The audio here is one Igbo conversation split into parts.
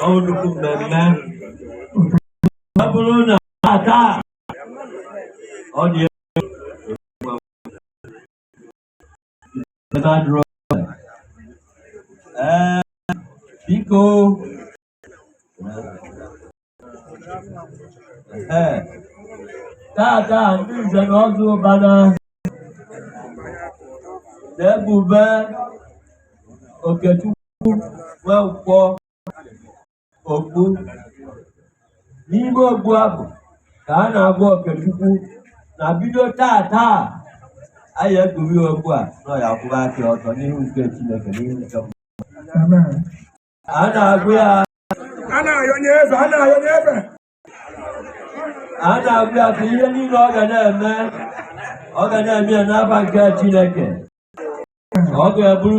ọ nnukwu mmemme ọ bụrụ na aka ọ dị ee biko ee tata ndị nze na ọzọ ụbana na-ekpube okechukwu nwankwọ okpu n'ime okpu a bụ ka a na-agwa okechukwu na bido taa taa anyị ekpuri okpu a na ya kwụrụ aka ọtọ n'ihu nke chineke n'ihu nke mmadụ a na-agwa ya a na-ayọ nye eze a na-ayọ nye eze a na-agwa ya ka ihe niile ọ ga na-eme ọ ga na-eme ya n'ava nke chineke ọ ga-eburu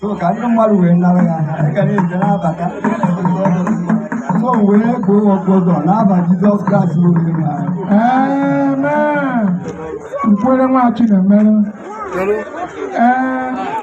so ka ndị mmadụ wee nara ya na-abata so wee kpuo okpu ọzọ n'ava Jizọs Kraịst onye nwe anyị nkwere nwa Chinemere ee